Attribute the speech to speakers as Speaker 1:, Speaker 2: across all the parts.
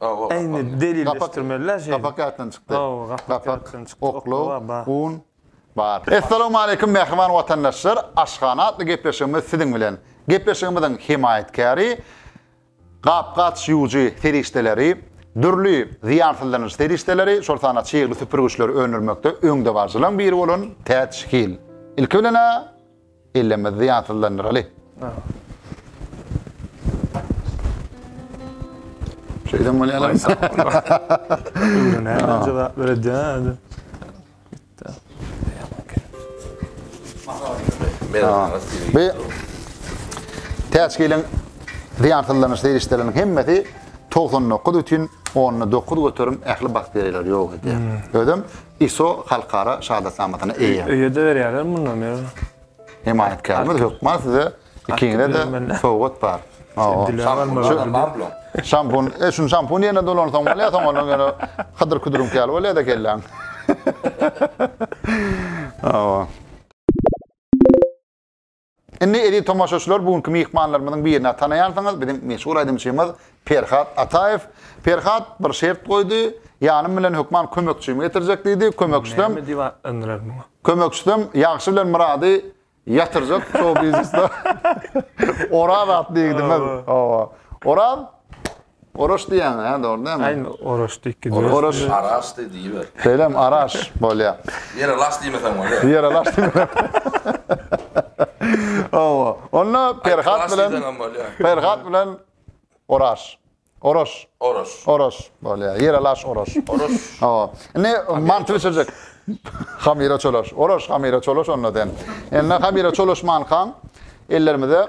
Speaker 1: Eýni delilleşdirmeli-dä şeýdip. Gapak ýatdan çykdy. Hawa,
Speaker 2: gapak ýatdan çykdy. Gapak,
Speaker 1: oklaw, ba. un,
Speaker 2: bar. Essalamualeýkum mähriban watandaşlar! Aşhana atly gepleşigimiz siziň bilen. Gepleşigimiziň hemaýatkäri gap-gaç ýuwujy serişdeleri, dürli zyýansyzlanyjy serişdeleri, şol sanda çygly süpürgiçleri öndürmekde öňdebaryjylaryň biri bolan Täç Hil. Ilki bilen-ä Ellemizdi ýatsyzlandyraly. Şeýdem bolýar.
Speaker 1: Öwrene jogap beredýär.
Speaker 2: Be. Täç gelen zyýansyzlanyş serişdeleriniň hemmesi 99 üçin 10 9 göterim ähli bakteriýalar ýok edýär. Özüm ISO halkara şahadatnamasyna eýe. Öýe-de berýärler mundan
Speaker 1: ýöne. Hemaýatkärimiz
Speaker 2: hökman size ikiňize-de sowgat bar. Şampun, e şuny şampun ýerine dolansaň bolýa, soň onuň ýöne hydyr-küdüriňki ýaly bolýa-da kelläň. Hawa. Indi eziz tomaşaçylar bu günki myhmanlarymyzyň birini tanaýarsyňyz, biziň meşhur aýdymçymyz Perhat Ataýew. Perhat bir şert goýdy, ýanym bilen hökman kömekçimi getirjek diýdi, kömekçisem Näme diýip at yndyrar muňa? Kömekçisem Ýagşy bilen Myrady ýatyrjak şou-biznesde Oraz atly ýigidimiz. Hawa. Oraz Oraş diýýäňiz, hä, dogry dälmi?
Speaker 1: Aýn Oraş
Speaker 3: diýip gidibersin. Oraş. Araş
Speaker 2: diý diýiber. Şeýlemi?
Speaker 3: Araş bolýa. Ýere laş diýmeseň bolýa.
Speaker 2: Ýere laş diýmeseň. Hawa. Onda Perhat bilen Perhat bilen Oraş. Oraş. Oraş. Oraş bolýa. Ýere laş Oraş. Oraş. Hawa. Indi manty bişirjek. Hamyra çolaş. Oraş hamyra çolaş onda sen. Indi hamyra çolaşmankaň ellerimize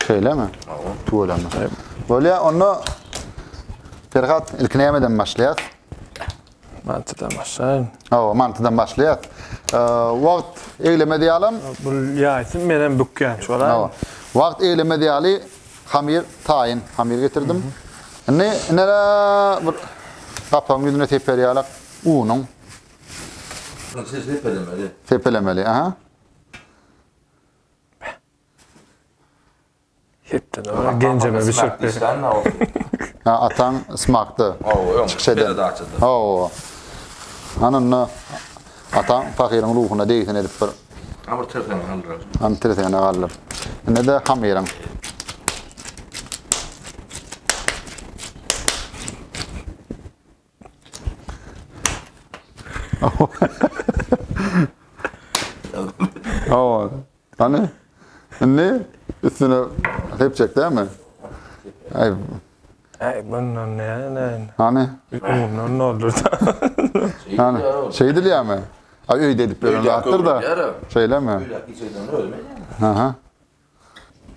Speaker 3: Şeýlemi? Hawa.
Speaker 2: Tüweleme. Bolýa, onda Perhat ilki nämeden başlaýas?
Speaker 1: Mantydan başlaýyn. Hawa, mantydan başlaýas.
Speaker 2: Wagt egleme diýalam. Bu ýaýsyn
Speaker 1: men hem bükýän şu ara. Hawa. Wagt egleme
Speaker 2: diýali hamir taýyn hamir getirdim. Indi indi bir gapagyň ýüzüne teper ýalak unuň.
Speaker 3: Seppelemeli. Seppelemeli, aha.
Speaker 1: Ýetdi. Genjeme bişirip ber. Ha
Speaker 2: ataň smakda. Hawa öň çykyş eden. Hawa. Hany onda ataň pahyryň ruhuna degsin edip bir. Ha bir tirsegini
Speaker 3: galdyrar. Hany tirsegini galdyr.
Speaker 2: Ine-de hamyryň. Awa. Hany? Indi üstüne hep çek dämi? Ay. Ay
Speaker 1: bundan ne ne? Hany?
Speaker 2: Bundan ne olur?
Speaker 1: Hany?
Speaker 2: Şey dil ya mı? Ay öyle edip böyle attır da. Şeyle mi? Aha.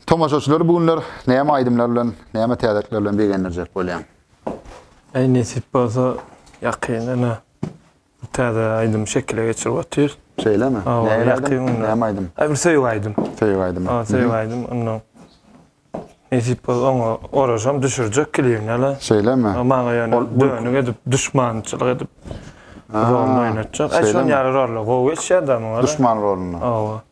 Speaker 2: Tomaşaçylary bu günler näme aýdymlar bilen, näme täzelikler bilen begendirjek bolýaň? Eý
Speaker 1: nesip bolsa ýakyn ine bir täze aýdymy şekile geçirip otyrys. Şeýlemi? Nähili
Speaker 2: aýdym? Näme aýdym?
Speaker 1: Aý bir söýgi
Speaker 2: aýdym.
Speaker 1: Söýgi aýdymy. Hawa söýgi
Speaker 2: aýdym. Ondan
Speaker 1: nesip bolsa oňa oraşam düşürjek klibini-le. Şeýlemi? Maňa
Speaker 2: ýöne
Speaker 1: dönük edip duşmançylyk edip roluny oýnatjak. Aý şonuň ýaly roller gowy geçýär-de muňa. Duşman rolunda.
Speaker 2: Hawa.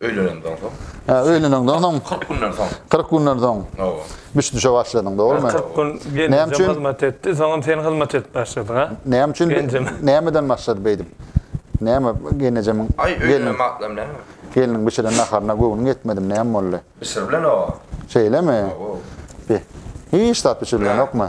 Speaker 3: Öýlenenden soň. Hä, öýlenenden soň.
Speaker 2: 40 günden soň.
Speaker 3: 40 günden soň. Hawa.
Speaker 2: Bişdişe
Speaker 3: başladyň,
Speaker 2: dogrumy? 40 gün gelinjem
Speaker 1: hyzmat
Speaker 2: etdi, soňam sen
Speaker 1: hyzmat edip başladyň, ha? Näme üçin?
Speaker 2: Nämeden
Speaker 1: başlady beýdip?
Speaker 2: Näme gelinjemiň? Aý, öýlenen wagtlam
Speaker 3: näme? Gelniň bişiren naharyna
Speaker 2: göwnüň ýetmedimi, näme boldy? Bişiribilen o.
Speaker 3: Şeýlemi?
Speaker 2: Hawa. Hiç zat bişiribilenokmy?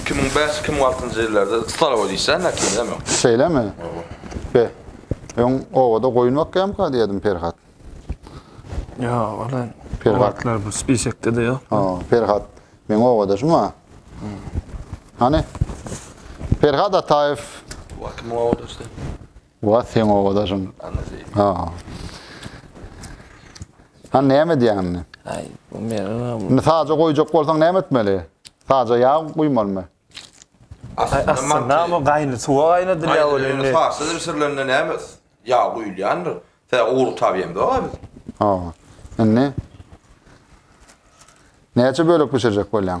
Speaker 2: Iki müň bäş, iki müň
Speaker 3: altynjy ýyllarda stalowa diýseň, näkimem ýok. Şeýlemi? Oba.
Speaker 2: Be, öň obada goýun bakýamyka diýýärdim Perhat.
Speaker 1: Ýok, ol-a o wagtlar bu
Speaker 2: spisekde-de
Speaker 1: ýok. Ha, Perhat,
Speaker 2: meň obadaşym-a. Hany, Perhat Ataýew. Ol kimiň
Speaker 3: obadaşy? Wah seň
Speaker 2: obadaşyň. Ha. Ha näme edýäň indi? Ay, bu menem.
Speaker 1: Indi saja goýjak
Speaker 2: bolsaň näme etmeli? Saja ýag guýmalymy?
Speaker 1: Aslynda ama gaýny suwa gaýnadylýar ol indi. Saja
Speaker 3: bişirilende näme ýag guýulýandyr? Tä ugur tabýamda biz. Ha.
Speaker 2: Indi näçe bölek bişirjek bolýaň?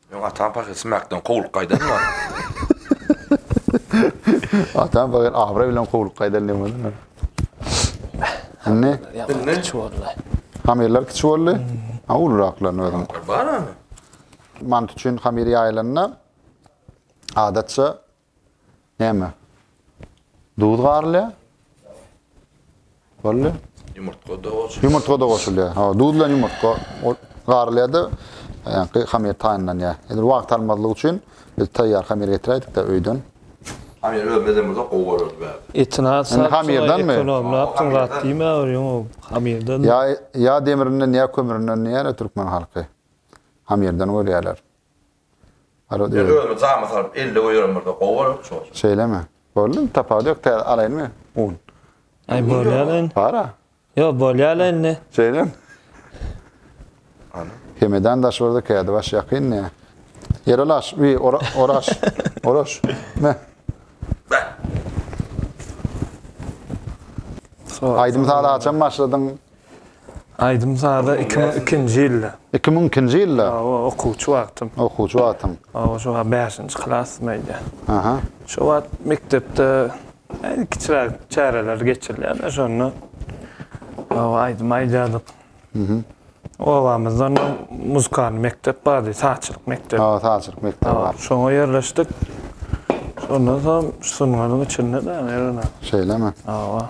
Speaker 3: Ýok atam pahyr
Speaker 2: ismäkden kowlup gaýdan bar. Atam pahyr abraý bilen kowlup gaýdan diýen boldy. Indi Indi kiçi boldy.
Speaker 1: Hamyrlar kiçi
Speaker 2: boldy. Ha uluraklarny özüm. Bar ony.
Speaker 3: Mant
Speaker 2: üçin hamyr ýaýylanda adatça Näme? Duz garylýar. Boldy.
Speaker 3: Ýumurtga da goşulýar. Ýumurtga da goşulýar.
Speaker 2: Ha, duz bilen ýumurtga garylýar-da, ýaňky hamir taýynlanýar. Indi wagt almazlyk üçin biz taýýar hamir getiräýdik-de öýden. Hamir
Speaker 3: özüne edem bolsa gowy bolardy bärde. Etini has sap,
Speaker 1: ekonomlap,
Speaker 2: ýat
Speaker 1: diýmäwer, ýoňa hamirden. Ýa, ýa
Speaker 2: demirinden, ýa kömürinden diýýär-ä türkmen halky. Hamirden görýärler. Men özüme jama salyp elde goýaryn bolsa gowy bolardy
Speaker 3: şol. Şeýlemi? Boldy
Speaker 2: tapawudy ýok täze alaýynmy un. Aý bolýala
Speaker 1: indi. Bara. Ýok
Speaker 2: bolýala
Speaker 1: indi. Şeýlemi?
Speaker 3: Hemedan
Speaker 2: daş bolsa kädi baş ýakyn ne. Erolaş we oraş oraş ne. Aýdym saz haçan başladyň?
Speaker 1: Aýdym-saza iki müň ikinji ýylda. Iki müň ikinji ýylda?
Speaker 2: Hawa, okuwçy wagtym.
Speaker 1: Okuwçy wagtyň.
Speaker 2: Hawa, şo wagt bäşinji
Speaker 1: klasdym öýdýän. Aha. Şo
Speaker 2: wagt
Speaker 1: mekdepde äýt kiçiräk çäreler geçirilýärdi, şonda hawa, aýdym aýdardyk. Mhm. Obamyzdan muzykalnyý mekdep bardy, sazçylyk mekdebi. Hawa, sazçylyk mekdebi bar. Hawa,
Speaker 2: şoňa ýerleşdik.
Speaker 1: Şondan soň şu sungatyň içinde-de, ýöne. Şeýlemi? Hawa.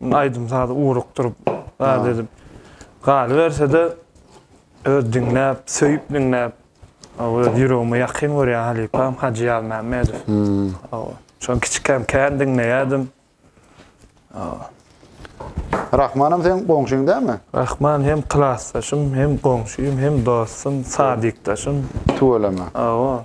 Speaker 1: Aýdym sazy ugrukdyryp, zat edip galyberse-de, öz diňläp, söýüp diňläp, öz ýüregime ýakyn görýän halypam Hajy Ýazmämmedow. Hawa. Şony kiçikäm kän diňleýärdim. Hawa.
Speaker 2: Rahmanam seň goňşyň dälmi? Rahman hem
Speaker 1: klasdaşym, hem goňşym, hem dostum, sadikdaşym. Tüweleme.
Speaker 2: Hawa.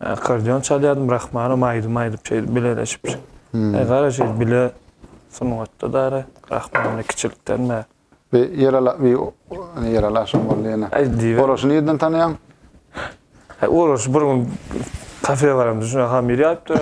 Speaker 2: Akkordeon
Speaker 1: çalýardym Rahmanow aýdym aýdyp şeýdip bileleşip. Eý gara şeýdip bile sungatda dara Rahmanow kiçilikden bäri. Bi Ýerala
Speaker 2: bi Ýerala şum boldy ýene. Oraşy nirden
Speaker 1: tanaýaň?
Speaker 2: He
Speaker 1: Oraşy bir gün kafe baramda şunda hamir ýaýypdyr.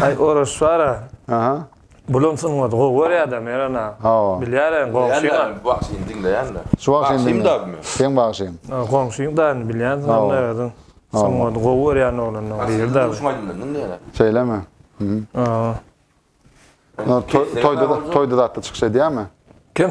Speaker 1: Aý Oraş bara. Aha.
Speaker 2: Bulam sungat
Speaker 1: gowy görýäda Merana. Hawa. Bilýär hem goňşyňa. Bagşyny diňleýände.
Speaker 3: Şu bagşyny diňle.
Speaker 2: Seň
Speaker 3: bagşyň.
Speaker 2: Goňşyň daýyny
Speaker 1: bilýänsiň onda özüň. Sungaty gowy görýän oglanlaň biri daýy. Şu aýdymdan diňleýäne.
Speaker 3: Şeýlemi?
Speaker 2: Hawa. Toýda toýda zatda çykyş edýärmi? Kim?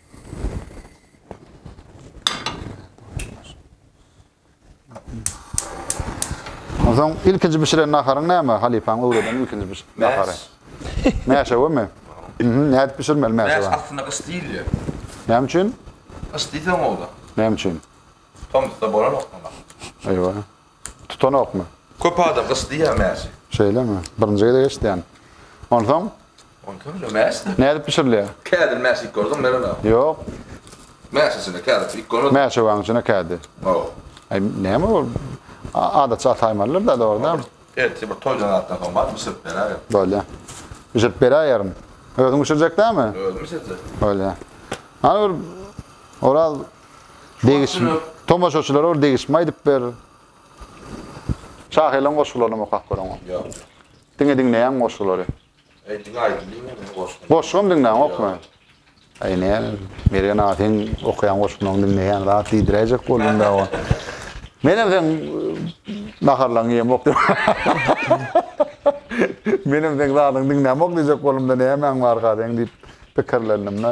Speaker 2: Onsoň ilkinji bişiren naharyň näme? Halypaň öwreden ilkinji biş nahary. Mäşe mi? Mhm, nädip bişirmeli mäşe? Mäş aslynda gyş diýilýär.
Speaker 3: Näme üçin?
Speaker 2: Gyş diýseň
Speaker 3: ola. Näme üçin?
Speaker 2: Tomusda
Speaker 3: bolanok muňa. Eýwa.
Speaker 2: Tutanokmy? Köp adam gyş diýýär
Speaker 3: mäşe. Şeýlemi? Birinji
Speaker 2: gezek eşidýän. Onsoň Onsoň
Speaker 3: ine mäş. Nädip bişirilýär?
Speaker 2: Kädini mäş iýip gördüňmi
Speaker 3: Meren aga? Ýok.
Speaker 2: Mäş içine
Speaker 3: kädi iýip görmediňmi? Mäşewaň içine kädi.
Speaker 2: Hawa. Aý näme ol? Adatça ataýmalylar-da, dogruda. Ertir bir toýdan
Speaker 3: zatdan soň bar, bişirip beräýerin. Bolýa.
Speaker 2: Bişirip beräýerin. Özüň bişirjek dälmi? Özüm bişirjek. Bolýa. Hany bir Oraz degiş tomaşaçylara bir degişme aýdyp ber. Şahyryň goşgularyny okap görüň. Ýok. Diňe
Speaker 3: diňleýäň
Speaker 2: goşgulary. Eý diňe aýdym diňle
Speaker 3: meniň goşgymy. Goşgym diňläň okma.
Speaker 2: Aý näme Mergen aga seň okaýan goşgyňy diňleýän zat diýdiräýjek boldum da oňa. Menem seň naharlaryňy ýemok diýip. Menem seň zadyňy diňlämok diýjek boldum da nämäň barka seň diýip pikirlendim da.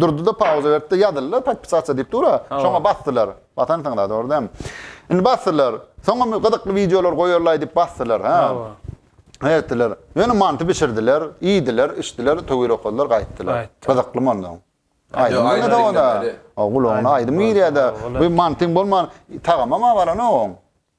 Speaker 2: Durdy-da pauza berdi-de, Ýazyldylar, podpisasiýa diýip dur-a. Şoňa basdylar. Basansyň-la, dogry däl? Indi basdylar. Soňam gyzykly wideolar goýarlaý diýip basdylar. Hä. Hä etdiler. Ýöne manty bişirdiler, iýdiler, içdiler, töwir okadylar, gaýtdylar. Gyzykly monda. Aýdym diňle-de onda. Gulagyna aýdym girýär-de. Bu mantyň bolman, tagamam-a balanok oň.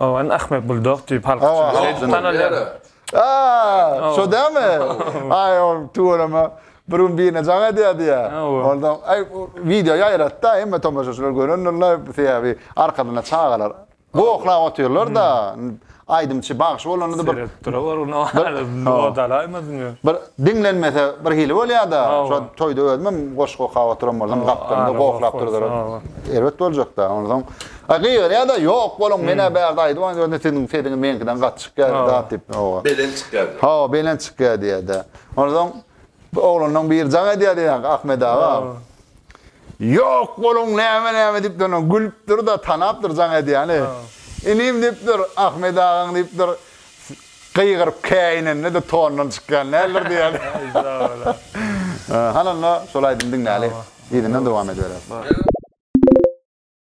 Speaker 2: Owen Ahmed
Speaker 1: Bulldog diýip halk üçin şeýdip Owen. tanalýar. Aa,
Speaker 2: şo dälmi? Aý, ol tüweleme, bir gün birine jaň edýärdi ýa. Owen. Onda, aý, wideo ýaýratdy-da, hemme tomaşaçylar görendirler, sebäbi arkasynda çagalar goklap otyrlar-da, aýdymçy bagşy bolanda-da bir, Seredip durawer
Speaker 1: ony, odalaýmasyny. bir diňlenmese
Speaker 2: bir hili bolýar-da, Owen. şo toýda özümem goşgy okap oturan bolsam, gapdalymda goklap durdular. Erbet boljak-da, onsoň. A gygyryar da ýok boluň menä bärde aýdybam ýörün siziň sesiňiz meňkiden gaty çykýar zat diýip hawa. Belent çykýar diýip.
Speaker 3: Hawa belent çykýar
Speaker 2: diýerdi. Onsoň oglanlaň biri jaň edýärdi ýaňky Ahmet aga. Ýok boluň näme näme diýip durna gülüpdir da tanapdyr jaň edýäni. Inim diýipdir Ahmet agaň diýipdir gygyryp käýinende de tondan çykýan däldir diýýärdi. Hany onda şol aýdymy diňläli yzyndan dowam edibereris.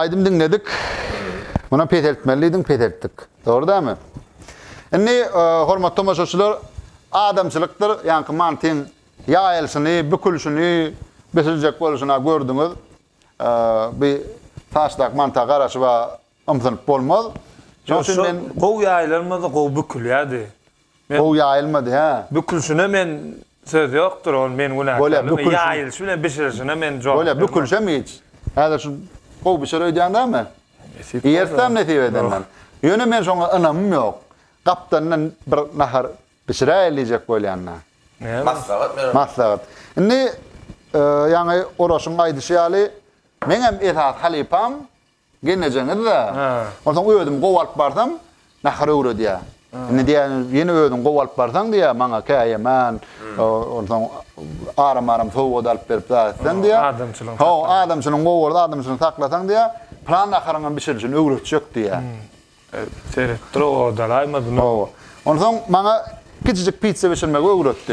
Speaker 2: Aýdym diňledik. Muny peseltmeli diýdiň, peseltdik. Dogry dämi? Indi e, hormatly tomaşaçylar, adamçylykdyr, ýaňky mantyň ýaýylyşyny, bükülişini, bisiljek boluşyny gördüňiz. E, bu saçdak manta garaşyp ymsynyp bolmaz. Şonuň üçin men
Speaker 1: gowy ýaýylanmasa gowy bükülýärdi. Gowy
Speaker 2: ýaýylmady hä. Bükülşine men
Speaker 1: söz ýokdur ol men günäkärligime ýaýylyşy bilen bişirilişine men jogap bermem. Bolýa bükülşem hiç.
Speaker 2: Häzir şu gowy bişer öýdýäň dämi? Nesip bolsa. Ertem nesip edenden. Ýöne men şoňa ynamym ýok. Gapdandan bir nahar bişiräýeli diýjek bolýanda. Maslahat bererler. Maslahat. Indi ýaňy Oraşyň aýdyşy ýaly meňem esasy halypam Gelnejeňiz-dä. Onsoň özüm gowy alyp barsam, nahar öwredýär. Indi diýýän, ýene özüň gowy alyp barsaň diýýär, maňa käýemen, onsoň aram-aram sowgat alyp berip zat etseň diýýär. Adamçylygyňy saklasaň. Ho,
Speaker 1: adamçylygyňy gowy
Speaker 2: görüp, adamçylygyňy saklasaň diýýär, pylan naharyňam bişirilişini öwretjek diýýär. Seretdir
Speaker 1: o odalaýmady mı? Hawa. Onsoň
Speaker 2: maňa kiçijik pitsa bişirmegi öwretdi.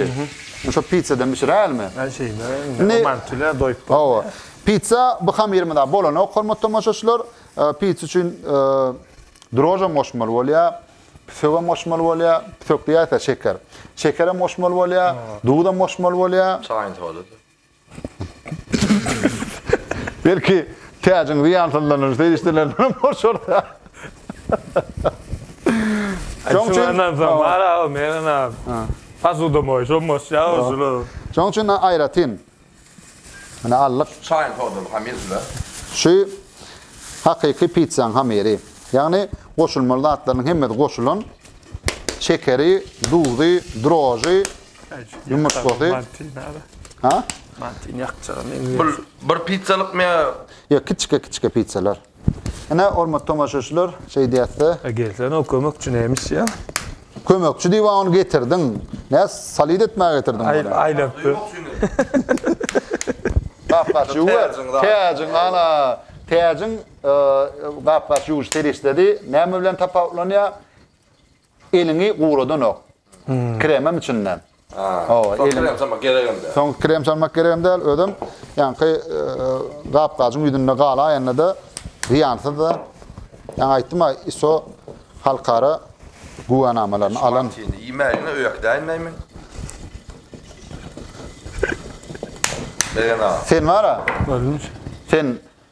Speaker 2: Indi şo pitsadan bişiräýelimi? Aý şeýle,
Speaker 1: indi mantýuly-ä doýup boldy. Hawa. Pitsa
Speaker 2: bu hamyrymyza bolanok, hormatly tomaşaçylar. Pitsa üçin drožem goşmaly bolýar, psögem goşmaly bolýar, psök diýýäs-ä, şeker. Şekerem goşmaly bolýar, duzam goşmaly bolýar. Çaýyň sodasy. Belki täjiň zyýansyzlanýan serişdelerinden boşarka. Şoň üçin Şundan
Speaker 1: soň bar aw meniň aw. Posudamoý şo moşja şuny. Şoň üçin
Speaker 2: aýratyn Mine aldyk. Şu çaýyň sodaly hamyrdyda.
Speaker 3: Şu
Speaker 2: hakyky pitsaň hamyry. Ýagny goşulmaly zatlarynyň hemmesi goşulan. Şekeri, duzy, droži, Ýumurtgasy. Ha? Martin
Speaker 1: ýakjagam indi. Bir bir
Speaker 3: pizzalyk mı? Ýok, kiçike
Speaker 2: kiçike pizzalar. Ene hormat tomaşaçylar, şeý diýäsde. Gelsen o kömekçi
Speaker 1: nämiş ýa? Kömekçi diýip
Speaker 2: ony getirdiň. Nä salyt etmäge getirdiň? Aý, aýlap. Gapgaç ýuwar. Täjiň ana. Täjiň gapgaç ýuwuş serişdesi näme bilen tapawutlanýar? Eliňi guradanok. Kremem içinde. Soň krem
Speaker 3: salmak geregem däl. Soň krem salmak geregem
Speaker 2: däl. Özem ýaňky gap-gajyň ýüzünde galaýanda-da zyýansyz-da. Ýaňy aýtdym-a, ISO halkara güwänamalaryny alan. Iýmägine öý äkidäýin
Speaker 3: nämen? Egen aga. Sen bar-a.
Speaker 1: Sen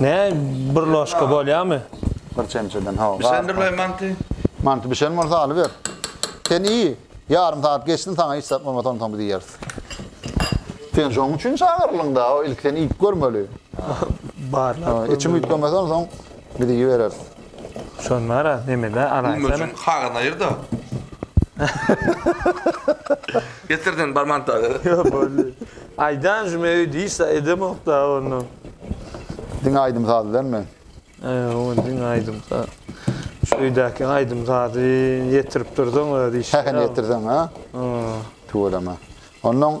Speaker 1: Ne bir loşka bolýamy? Bir çemçeden
Speaker 2: hawa. Bişendirleý manty.
Speaker 3: Manty bişen
Speaker 2: bolsa alyber. Sen iý. Ýarym sagat geçsin saňa hiç zat bolmasa onsoň biz iýeris. Sen şoň üçin çagyrylyň da, ilki sen iýip görmeli. Barlap.
Speaker 1: Içim üýtgemese
Speaker 2: onsoň biz iýibereris. Şonara
Speaker 1: nemede alaýsana. Gümmejiň haga naýyrda.
Speaker 3: Getir sen barman taga. Yo bolly.
Speaker 1: Aýdan jüme öý diýsa edemok da onu.
Speaker 2: Diňe aýdym saz bilen men. He on
Speaker 1: diňe aýdym saz. Şu öýdäki aýdym sazy ýetirip dursaň özi işe. He he ýetirseň ha.
Speaker 2: Tüweleme. Ondan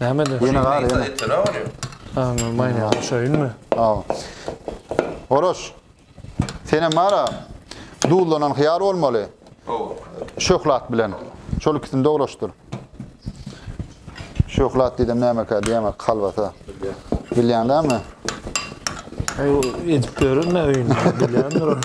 Speaker 1: Näme de? Ýene gar ýene. Etene
Speaker 3: bolýar.
Speaker 1: Ha, maýna şeýinmi?
Speaker 2: Ha. Oraş. Senem mara duzlanan hyýar bolmaly. Hawa.
Speaker 3: Şöhlat bilen.
Speaker 2: Şol ikisini doglaşdyr. Şöhlat diýdim nämekä diýemä kalbasa. Bilýäňdämi?
Speaker 1: Edip görün öýünde. Bilýändir.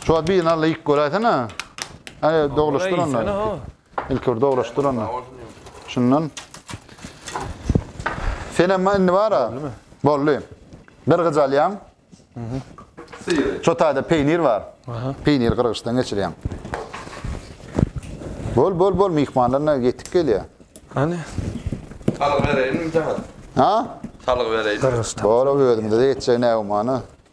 Speaker 2: Şu wagt birini alla ýyk göräýsene. Aý, doglaşdyr onda. Ilki bir doglaşdyr onda. Şundan. Sen hem indi bara. Boldy. Gyrgyç alýaň.
Speaker 3: Şu taýda peýnir
Speaker 2: bar. Peýnir gyrgyçdan geçirýäň. Bol, bol, bol, myhmanlaryna ýetip gelýär. Hany?
Speaker 1: Salgy
Speaker 3: bereýinmi jahat? Ha?
Speaker 2: Salgy bereýin.
Speaker 3: Gyrgyçdan. Bor, özüňde
Speaker 1: de ýetjek
Speaker 2: nägümana.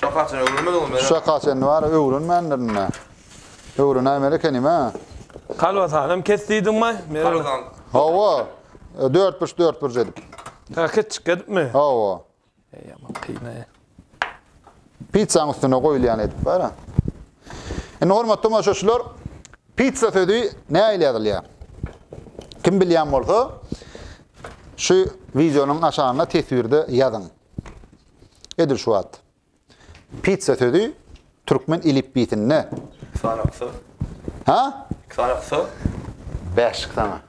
Speaker 3: Şa kaçan öwrenmedi ony. Şa kaçan bar
Speaker 2: öwrenmändir indi. Öwrenäýmeli ekenim a. Kalbasanam
Speaker 1: kes diýdiňmi? Kalbasan. Hawa.
Speaker 2: Dört burç dört burç edip. Ha ketçik
Speaker 1: edipmi? Hawa.
Speaker 2: Eý aman
Speaker 1: kynay.
Speaker 2: Pizzaň üstüne goýulýan edip bar a. Indi hormatly tomaşaçylar, pizza sözi nähili ýazylýar? Kim bilýän bolsa, şu wideonyň aşagynda teswirde ýazyň. Edil şu wagt. Pizza sözi türkmen elipbiýsinde. Iki sany kysy.
Speaker 3: Ha?
Speaker 2: Iki sany kysy.
Speaker 3: Bäşik
Speaker 2: sana.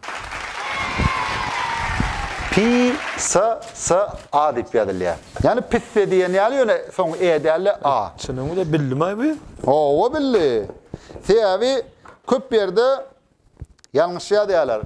Speaker 2: Pi sa sa a diýip ýazylýar. Ýani pisse diýen ýaly ýöne soň e däl-de a. Çynyňy da bildimay
Speaker 1: bu. Owa bildi.
Speaker 2: Sebäbi köp ýerde ýalňyş ýazýarlar.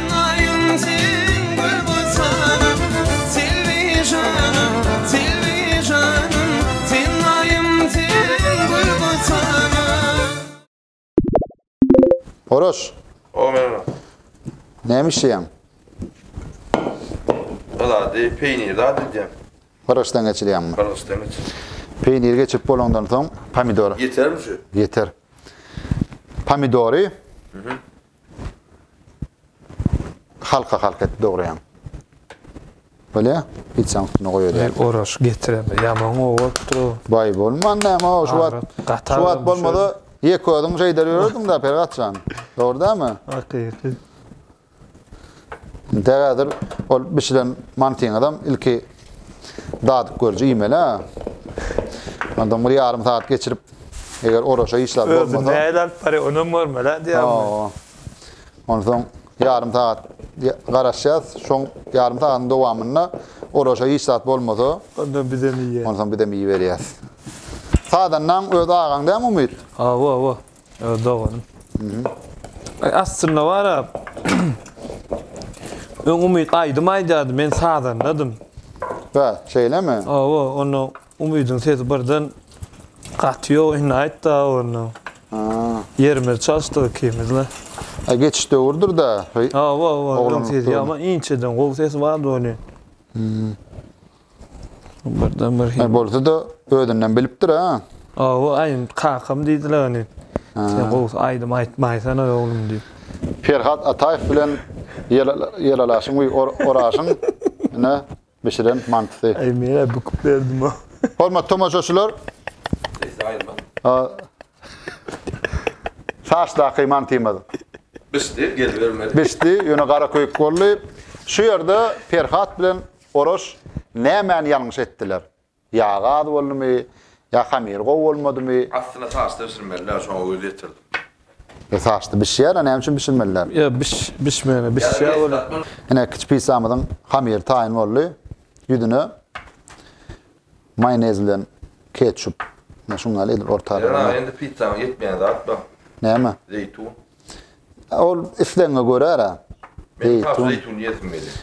Speaker 2: Oroş. O
Speaker 3: men ora. Näme
Speaker 2: işleýäň?
Speaker 3: Ylady, peýnir zat edýän. Gyrgyçdan geçirýäňmi?
Speaker 2: Gyrgyçdan geçir.
Speaker 3: Peýnir geçip
Speaker 2: bolandan soň pomidor. Ýetermi şu?
Speaker 3: Ýeter.
Speaker 2: Pomidory. Mhm. Halka halk et dogryň. Bolýa? Hiç zat üstüne goýaýar. Oraş getiren
Speaker 1: ýaman gowupdy. Baý bolman
Speaker 2: näme o şu wagt. Şu wagt bolmady. Ýek özüň jeýder ýörerdiň-de Pergatjan. Dogry dämi? Hakyky. Degädir ol bişilen mantyňyzam ilki dadyp görje iýmeli. Ondan bir ýarym saat geçirip eger oraşa işler bolmasa. Özü näle alyp barýar,
Speaker 1: onam görmeli diýýärmi?
Speaker 2: Onsoň ýarym saat garaşýas, şoň ýarym saatyň dowamynda oraşa hiç zat bolmasa. Ondan bizem iýýäs.
Speaker 1: Onsoň bizem iýiberýäs.
Speaker 2: Sadannaň öz agaň dämi Umyt? Hawa, hawa.
Speaker 1: Ýa doganym. Ay aslynda bara Öň Umyt aýdym aýdardy, men sazandadym. Bä,
Speaker 2: şeýlemi? Awa, onda
Speaker 1: Umydyň sesi birden gaty ýok, indi aýtda onda. Ha. Ýerimiz çalşdy ikimizle. Ay geçiş
Speaker 2: döwürdür da. Awa, awa, onuň
Speaker 1: sesi ýaman inçeden gowy sesi bardy onuň. Hmm. Birden bir hil. Bolsa da özünden
Speaker 2: bilipdir ha. Awa aýym
Speaker 1: kakam diýdiler ony. Sen gowy aýdym aýtmaýsana oglum diýip. Perhat Ataýew
Speaker 2: bilen ýelalaşyň we oraşyň ine bişiren mantysy. Aý men-ä büküp
Speaker 1: berdim o. Hormatly tomaşaçylar.
Speaker 2: Sesi
Speaker 3: aýylman.
Speaker 2: Saçdaky mantymyz. Bişdi, gelibermedi.
Speaker 3: Bişdi, ýöne garaköýük
Speaker 2: boldy. Şu ýerde Perhat bilen Oraş, Nämäni ýalňyş etdiler? Ýagy az boldumy, ýa hamyry gowy bolmadymy? Astyna saçda
Speaker 3: bişirmeliler, şoňa göz ýetirdim. E, saçda
Speaker 2: bişýär-ä, näme üçin bişirmeliler? Ýa bişmegine
Speaker 1: bişýär welin. Ine, kiçi pizzamyzyň
Speaker 2: hamyry taýyn boldy. Ýüzüne maýonez bilen ketçup, ine, şuny ýaly edip ortalaýar. Ýöne, aga, indi pizzama
Speaker 3: ýetmeýän zat bar. Näme?
Speaker 2: Zeýtun.
Speaker 3: Ol
Speaker 2: islegiňe görä-le. Meniň has
Speaker 3: zeýtun iýesim gelýär.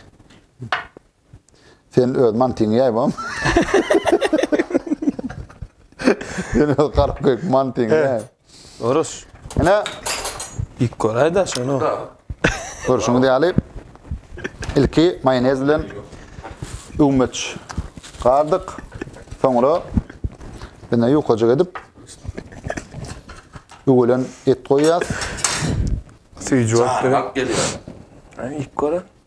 Speaker 2: Sen öz mantyňy ýaý bom. Sen öz garyp göýük mantyňy ýaý. Evet. Oruç.
Speaker 1: Ine.
Speaker 2: Ýik
Speaker 1: göräýdä şuny. Görşüňiz
Speaker 2: ýaly ilki maýonez bilen öwmeç gardyk. Soňra ine ýukajyk edip öwelen et goýýas.
Speaker 1: Süýji bolup gelýär.
Speaker 3: Ýik göre.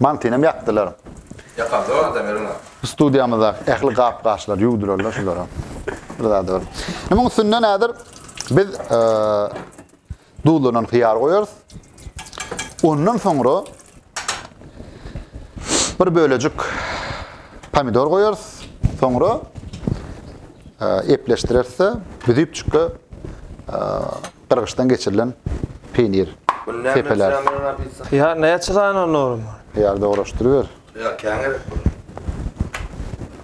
Speaker 2: Mantynyam ýakdylar. Ýakan zor
Speaker 3: adam ýeriňe. Studiýamyzdaky
Speaker 2: ähli gap-gaçlary ýuwdurarlar şulara. Bir zady bar. Munuň üstünden häzir biz duzlanan hyýar goýarys. Ondan soňra bir bölejik pomidor goýarys. Soňra epleşdireris-de, büzüpjikge Gyrgyçdan geçirilen peýnir. Tepeler. Ýa
Speaker 3: näçe sany
Speaker 1: onuň? Ýa dograşdyryber.
Speaker 2: Ýa käň gerek
Speaker 3: bol.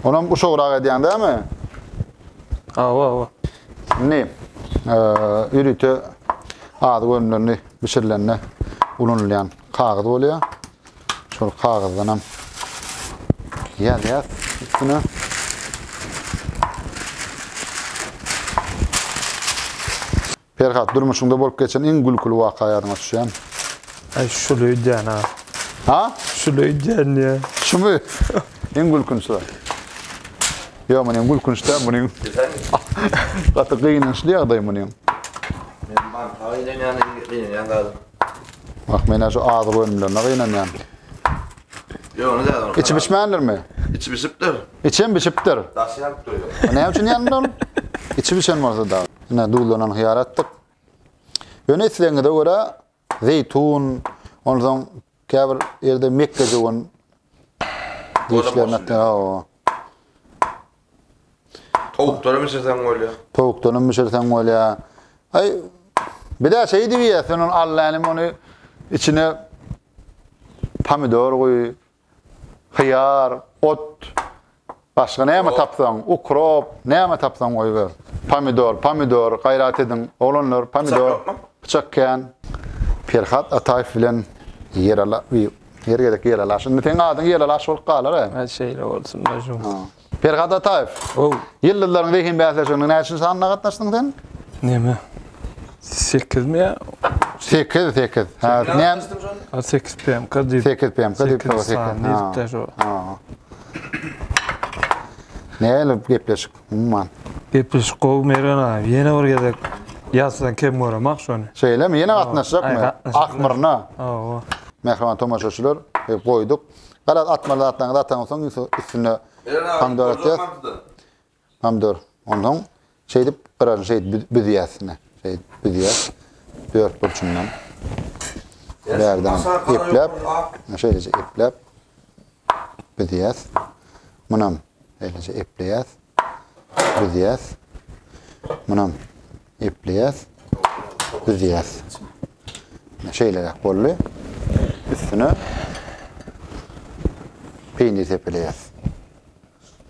Speaker 2: Onam uşagrak edýäň dämi?
Speaker 1: Hawa, hawa.
Speaker 2: Indi ýörite azyk önümlerini bişirilende ulanylýan kagyz bolýar. Şol kagyzdan hem ýazýas üstüne. Perhat durmuşunda bolup geçen iň gülküli waka ýadyňa düşýän. Ay
Speaker 1: şul öýdýän ha. Ha?
Speaker 2: Şul öýdýän
Speaker 1: diýä. Şumy?
Speaker 2: Iň gülkünçi. Ýok, munyň gülkünç däl, munyň
Speaker 3: gaty
Speaker 2: gynançly ýagdaý munyň. Men mantaga
Speaker 3: ilenýän, ilenýän galym. Bak men
Speaker 2: şu azyk önümlerine gynanýan.
Speaker 3: Ýöne de bar. İçi bişmändirmi?
Speaker 2: İçi bişipdir.
Speaker 3: İçem bişipdir.
Speaker 2: Daşy ýanyp
Speaker 3: durýar. Näme üçin ýandy ol?
Speaker 2: İçi bişen bolsa da. Ine duzlanan hyýar atdyk. Ýöne islegiňize görä zeýtun, ondan Käbir ýerde mekgejöwen diýişlerini atýar. Hawa. Towukdanam bişirseň
Speaker 3: bolýar. Towukdanam bişirseň
Speaker 2: bolýar. Aý, bir-ä şeý diýip iýýär, sen ony al länim, ony içine pomidor guý, hyýar, ot, Başga näme tapsaň, ukrop, näme tapsaň goýber. Pomidor, pomidor, gaýrat ediň, oglanlar, pomidor. Pyçak ýokmy? Pyçak kän. Perhat Ataýew bilen Ýerala bi her gezek Ýeralaş. Indi seň adyň Ýeralaş bolup galar-a. Hä, şeýle bolsun,
Speaker 1: Nažum. Perhat Ataýew.
Speaker 2: Ow. Ýyldyzlaryň zehin bäsleşigine näçinji sanda gatnaşdyň sen? Näme?
Speaker 1: Sekizmi ýa? Sekiz, sekiz.
Speaker 2: Hä, näm? Sekiz PMK
Speaker 1: diýip. Sekiz PMK diýip.
Speaker 2: Sekiz sany diýip-de şo. Näle bu gepleşik umman? Gepleşik gowy
Speaker 1: Mergen aga. Ýene bir gezek ýazsaň kem göremok şony. Şeýlemi? Ýene gatnaşjakmy?
Speaker 2: gatnaşyp Ahmyrna. Hawa.
Speaker 1: Mähriban tomaşaçylar,
Speaker 2: e, goýduk. Garaz atmaly zatlaryňyzy ataňsoň üstüne Mergen aga, Hamdollar, Hamdollar, ýaz. Hamdollar. Pomidor. Onsoň şeýdip gyraryny şeýdip büz- büzýär üstüne. Şeýdip büzýär. Dört burçundan. Bärden epläp, şeýleje epläp büzýär. Munam şeýleje epleýär. Büzýär. Munam epleýär. Büzýär. Şeýleräk boldy. Üstüne peýnir sepeleýär.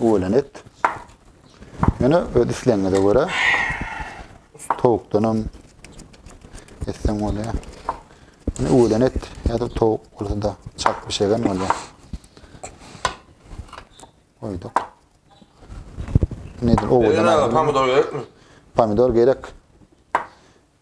Speaker 2: Uwelen et. Ýöne öz islegiňize görä towukdanam etseň bolýar. Ýöne uwelen et ýa-da towuk bolsa-da çak bişegen bolýar. Goýduk. Nedir? Owadan Ýöne aýry. pomidor
Speaker 3: gerekmi? Pomidor gerek.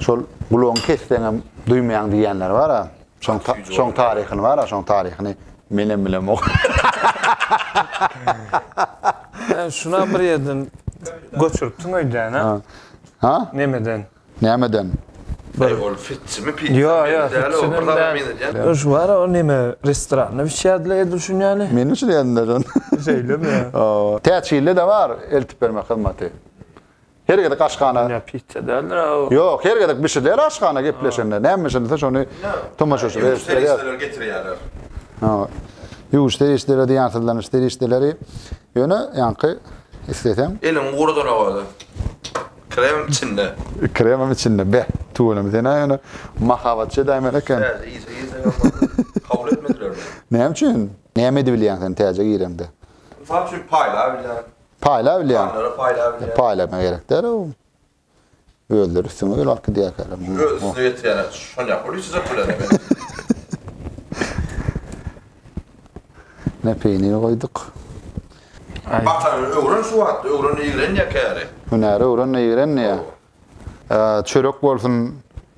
Speaker 2: Şol gulagyňy kesseňem duýmaýaň diýýänler bar-a. Şoň şoň taryhyny bar-a, şoň taryhyny menem bilemok.
Speaker 1: Sen şuna bir ýerden göçüripsiň öýdäne. Ha?
Speaker 2: Nemeden?
Speaker 1: Nämeden?
Speaker 2: Bir ol
Speaker 3: fitsimi pizza. Ýa, ýa, fitsini
Speaker 1: däl. Şu bar-a, o neme restoranda bişýärdiler edil şunýany. Meni üçin edinler
Speaker 2: şony. Şeýlemi?
Speaker 1: Täçgilde-de bar
Speaker 2: eltip bermek hyzmaty. Her gezek aşhana. Dünýä pizza
Speaker 1: däldir a o. Ýok, her gezek bişirler
Speaker 2: aşhana gepleşende. Näme bişirilse şony tomaşaçy ýüwüş serişdeleri getirýärler. Ha. Ýüwüş serişdeleri diýýän syzlanyş serişdeleri. Ýöne ýaňky isleseň. Eliň gurudana
Speaker 3: goýdy. Krem içinde. Kremem içinde.
Speaker 2: Beh, tüweleme sen a ýöne mahabatçy edäýmeli eken. Täze işe girseň
Speaker 3: hem boldy. Kabul etmediler meni. Näme üçin?
Speaker 2: Näme edibilýäň sen täze girende? Mysal üçin
Speaker 3: paýlaýbilýän. Paýla bilýän.
Speaker 2: Paýlara paýla bilýän. Paýlama
Speaker 3: gerek däl o.
Speaker 2: Özleri üstüňe öýle alyp gidýärkäler. Öz üstüne getirýäne şonýa
Speaker 3: pul içjek bilen.
Speaker 2: Ine peýniri goýduk. Batany
Speaker 3: öwren şu wagt, öwren ýigren ýa käri. Hünäri öwren ýigren
Speaker 2: ýa. Çörek bolsun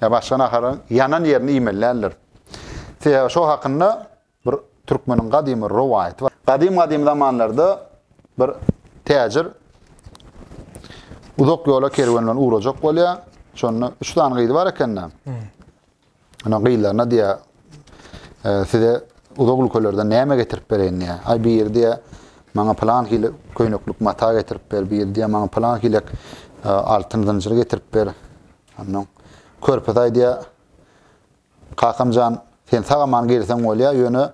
Speaker 2: ýa başga naharyň ýanan ýerini iýmeli däldir. Sebäbi şo hakynda Bir türkmeniň gadymy rowaýaty bar. Gadym-gadym zamanlarda bir täjir uzak ýola kerwen bilen ugrajak bolýar. Şonda üç sany gyzy bar ekende. Ana gyzlaryna diýýär, e, size uzak ülkelerden näme getirip bereýin diýýär. Aý biri diýýär, maňa plan hili köýneklik mata getirip ber, biri diýýär, maňa plan hilek e, altyn zynjyr getirip ber. Ondan körpüz aý diýýär, Kakam jan sen sag aman gelseň bolýa ýöne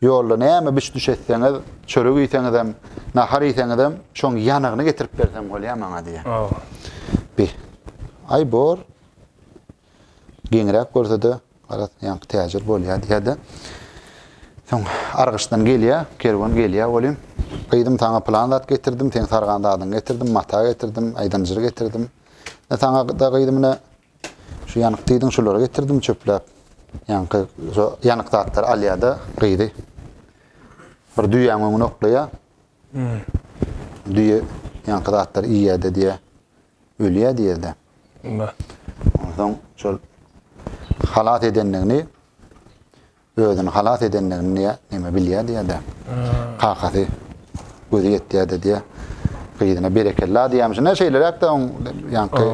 Speaker 2: ýolda näme biş düş etseňiz çörek iýseňizem nahar iýseňizem şoň ýanygyny getirip berseň bolýa maňa diýýär. Bi aý bor geňräk görsede garaz ýaňky täjir bolýa diýýärde. Soň argyçdan gelýär kerwen gelýär welin gyzym saňa plan zat getirdim seň sargan zadyňy getirdim mata getirdim aýdanjyry getirdim. Saňa da gyzym ine Şu ýanyk diýdiň şulary getirdim çöpläp. Ýaňky şu ýanyk zatlary alýada gyzy. Bir düýäň öňüne oklaýa. Hmm. Düýe ýaňky zatlary iýýäde diýe. Ölýä diýerde. Onda. Ondan şol halat edendigini Özüni halas edendigini diýä, näme bilýär diýä-de. Kakasy gözi ýetýär-de diýä. Gyzyna berekella diýemşine şeýleräk-de oň ýaňky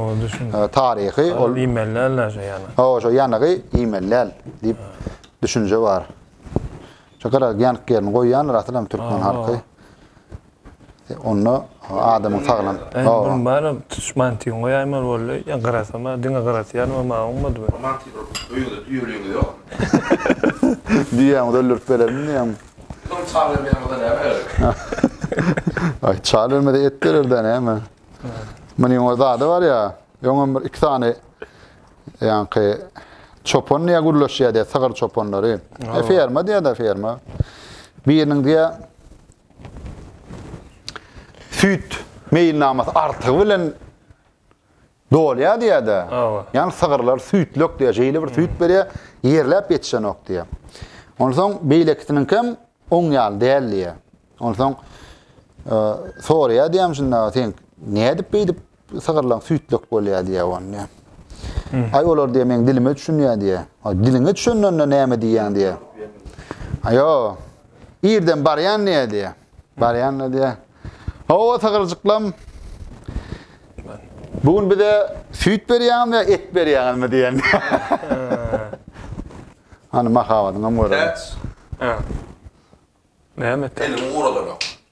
Speaker 2: taryhy ol iýmelläl-de
Speaker 1: şo ýana. Hawa, şo ýanygy
Speaker 2: iýmelläl diýip düşünje bar. Şo gara ýanyk ýerini goýýandyr asylam türkmen halky. Onda adamyň saglan. Oba. Bana
Speaker 1: tutuş mantygyny goýaýmaly boldy. Ýa gyrasam, diňe gyrasy ýanyma maňa oňmadymy? Bu mantygy öýüňde
Speaker 3: düýeligiňiz ýokmy?
Speaker 2: Düýäňizi öldürip bererin diýýäňmi? Biz oňa çaý bermeýän
Speaker 3: bolsa näme bererdik?
Speaker 2: Aý, çaý bermese et berer-dä näme? Munuň öz ady bar ýa. Öňem bir iki sany ýaňky çopan diýýä gürleşýärdi, sygyr çopanlary. Ferma diýýä-de, ferma. Biriniň diýýä süýt meýilnamasy artygy bilen dolýar diýýär-de. Hawa. Ýani sygyrlar süýtlek diýýär, şeýle bir süýt berýär, ýerläp ýetişenok diýýär. Onsoň beýlekisiniňki hem oň ýaly däl diýýär. Onsoň soraýar diýýär, şunda sen nädip beýdip Sygyrlaň süýt dök bolýa diýýä ony diýýä. Aý olar diýýä meň dilime düşünýä diýýä. Aý diliňe düşünende näme diýýäň diýýä. Aýo. Irden barýan diýýä diýýä. Barýan da diýýä. Hawa sygyrjyklam. Bu gün bize süýt berýäňmi ýa et berýäňizmi diýýän. Hany mahabatyňam göreli. Näme et? Elimi guradanok.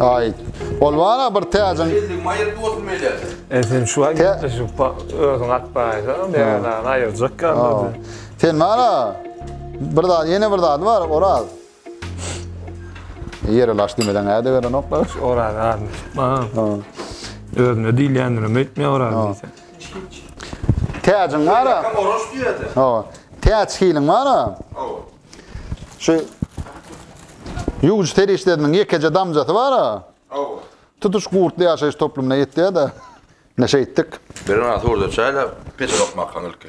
Speaker 3: Ay.
Speaker 2: Olmana bir täzin.
Speaker 3: E sen şu an
Speaker 1: şu özün at bayda. Ben ayıracak kaldı. Sen bana
Speaker 2: bir daha yeni bir daha var. Oral. Ýere laş diýmeden äde gelenoklar. Oraz adyny
Speaker 1: tutmaň. Özüne diýilýändirim öýtme oraz diýseň.
Speaker 2: Täjiň bara.
Speaker 3: Oraz diýýädi. Hawa. Täç
Speaker 2: hiliň bara. Hawa. Şu Ýuwujy serişdesiniň ýekeje damjasy bara. Hawa. Tutuş gurtly ýaşaýyş toplumyna ýetýä-de. Ine şeýtdik. Birinasy orda
Speaker 3: çaýlap, peçe dokmakam ilki.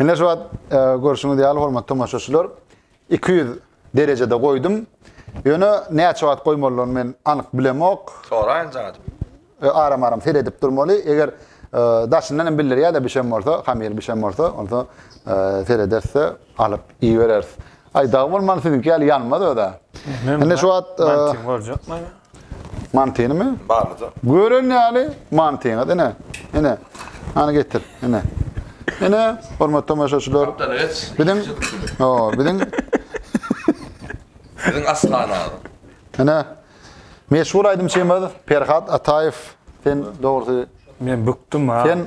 Speaker 2: Ine şu wagt e, görşüňiz ýaly hormatly tomaşaçylar 200 derejede goýdum. Ýöne näçe wagt goýmalyny men anyk bilemok. Soraýyn jaňadyp.
Speaker 3: E, aram aram
Speaker 2: seredip durmaly. Eger e, daşyndan hem bildirýär-de bişen bolsa, hamir bişen bolsa, onda e, serederse alyp iýereris. Aý dag bolman siziňki ýaly ýanmaz öde. Indi şu wagt e,
Speaker 1: Mantynymy?
Speaker 2: Barmydy? Gören
Speaker 3: ýaly
Speaker 2: mantyňyz ine. Ine. Hany getir. Ine. Ine, hormatly tomaşaçylar. Gapdala geç. Biziň o, biziň Biziň
Speaker 3: aşhana. Ine.
Speaker 2: Meşhur aýdymçymyz Perhat Ataýew. Sen dogrusy Men bükdüm
Speaker 1: ha. Sen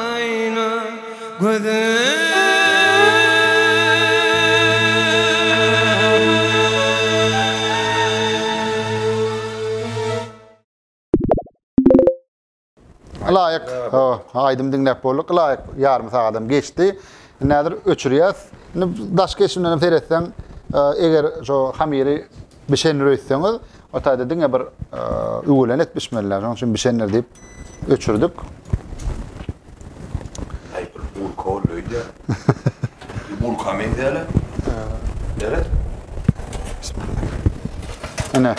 Speaker 2: Aýna Ylaýyk aýdym diňläp bolduk. Ylaýyk ýarym sagadam geçdi. Indi häzir öçürýäs. Indi daşky eşimden hem seretseň, eger şu hamyry Bişendir öýtseňiz, o taýda diňe bir üwelen et bişmelilär. Şonuň üçin bişendir diýip öçürdik.
Speaker 3: Aýdyp bulka ol öýdýä. Bulka meňzäle. Nere?
Speaker 2: Ene.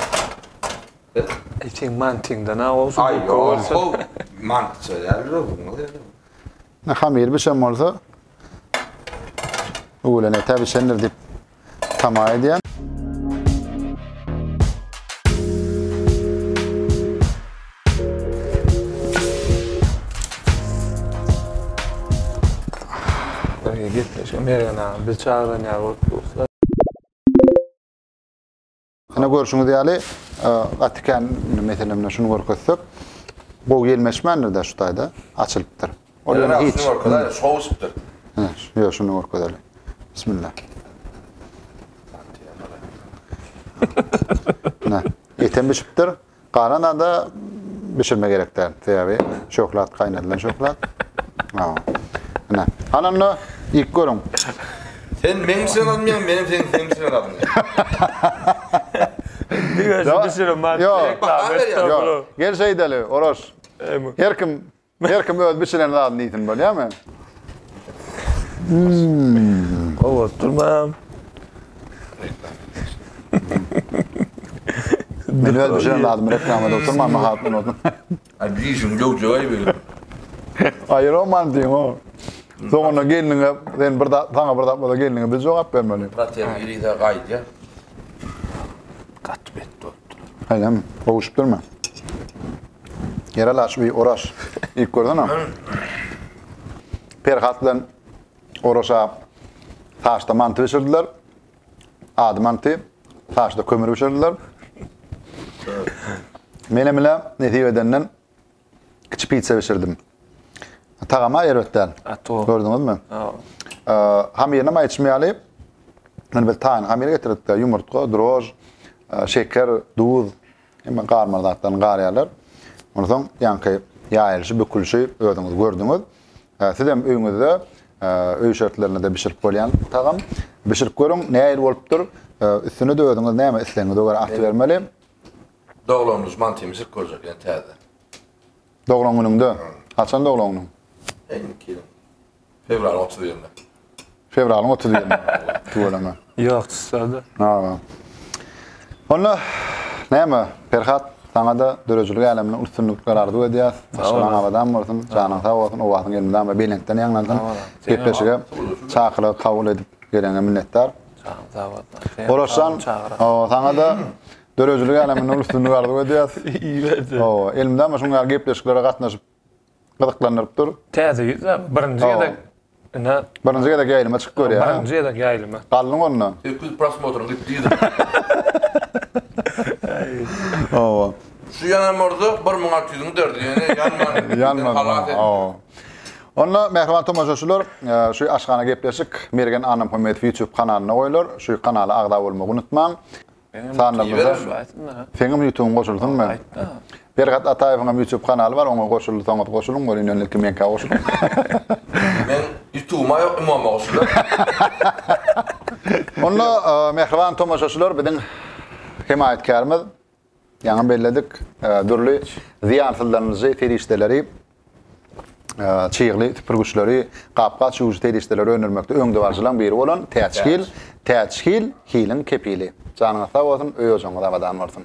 Speaker 1: Etin mantiňden ha olsun. Ay yok.
Speaker 3: Mantıça yerler olmaz ya. Ne hamir bir şey
Speaker 2: olsa öğlen ete bir şeyler deyip tama edýän.
Speaker 1: Gitmiş, Mergen ağa, biz çagyran ýaly bolup durus-la.
Speaker 2: Ine görşüňiz ýaly, gaty kän meselemde şuny görkezsek, gowy gelmeşmändir-de şu taýda açylypdyr. Ol ýöne hiç.
Speaker 3: Şowuşupdyr. Hä, ýo şuny
Speaker 2: görkezeli. Bismillah. Hä, etem bişipdir. Galan zada bişirme gerek däl. Sebäbi şöhlat gaýnadylan şöhlat. Hawa. Ine. Hany onda iýip görüň. Sen
Speaker 3: meň üçin almaýaň, men sen seň üçin alýan.
Speaker 1: Diňe şu bişirme. Ýok.
Speaker 2: Gel şeýdeli, Oraz. Her kim Her kim öz biçilen zadyny iýsin bolýamy?
Speaker 1: Gowy bolup durmam.
Speaker 2: Men öz biçilen zadymy reklama edip oturman mahabatdan oldum. Ay dişiň
Speaker 3: döwjek ay benim. Aýyr
Speaker 2: oman diýiň o. Soňuna gelniňe sen bir zat, sana bir zat bolsa gelniňe biz jogap bermeli. Brat sen ýerine gaýt
Speaker 3: ýa. Gaty bet bolupdyr. Aýdam,
Speaker 2: gowuşyp durmy? Ýer-ä laç bi Oraş. Iýip görsene. Perhat bilen Oraşa taşda manty bişirdiler. Ady manty. Taşda kömür bişirdiler. Menem ile nesip edenden Kiçi pizza bişirdim. Tagama erbet däl. Gördüňizmi? Hamyryna maý içmeýäli. Men bir taýyn hamyr getirdik de, ýumurtga, drož, şeker, duz, hemme garmaly zatlaryny garýarlar. Ondan soň ýaňky ýaýylyşy, bükülişi özüňiz gördüňiz. Siz hem öýüňizde öý şertlerinde bişirip bolýan tagam. Bişirip görüň, nähili bolupdyr. Üstüne-de özüňiz näme islegiňize görä atybermeli. Doglan
Speaker 3: güni mantymy çykyp görjek ýene täze. Doglan
Speaker 2: günüňde? Haçan doglan günüň? Indiki ýylyň.
Speaker 3: Fewralyň otuz birinde. Fewralyň
Speaker 2: otuz birinde. Tüweleme. Ýok,
Speaker 1: çyslarda.
Speaker 2: Hawa. Onda näme, Perhat, saňa-da döredijilik äleminde üstünlikler arzuw edýäs. Başlaryň abadan bolsun, janyň sag bolsun, owazyň elmydama belentden ýaňlansyn. Gepleşige çakylygy kabul edip geleňe minnetdar. Janyň sag bolsun. Oraşjan, saňa-da Döredijilik äleminde uly üstünlik arzuw edýäs. Hawa,
Speaker 1: elimde ama şuň
Speaker 2: ýaly gepleşiklere gatnaşyp gyzyklandyryp dur. Täze ýüz a, birinji gezek
Speaker 1: ine.
Speaker 2: Birinji gezek ýaýlyma çykyp görýär. Birinji gezek ýaýlyma.
Speaker 1: Galdyň onda. Öküz
Speaker 2: prosmotryň
Speaker 3: gitdi ýüzüne.
Speaker 2: Hawa. Şu ýanan
Speaker 3: murda bir müň alty ýüzüň derdi ýene ýanmady. Ýanmady. Halas etdi. Hawa. Onda
Speaker 2: mähriban tomaşaçylar, şu aşhana gepleşik Mergen Annamhammedow YouTube kanalynda goýlar. Şu kanala agza bolmagy unutmaň. Sanda gürze. Seňem ýutugyň goşulsyn men. Bergat Ataýewiň hem ýutup kanaly bar oňa goşulsaňyz goşulyň görýin ýöne ilki meňkä goşulyň.
Speaker 3: Men ýutugyma ýok ymama goşularyn.
Speaker 2: Onda mähriban tomaşaçylar biziň hemaýatkärimiz ýaňy belledik dürli zyýansyzlanyjy serişdeleri çygly süpürgiçleri, gap-gaç ýuwujy serişdeleri öndürmekde öňdebaryjylaryň biri bolan Täç Hil, Täç Hil, Hiliň kepili. Janyňyz sag bolsun, öý-ojagyňyz abadan bolsun!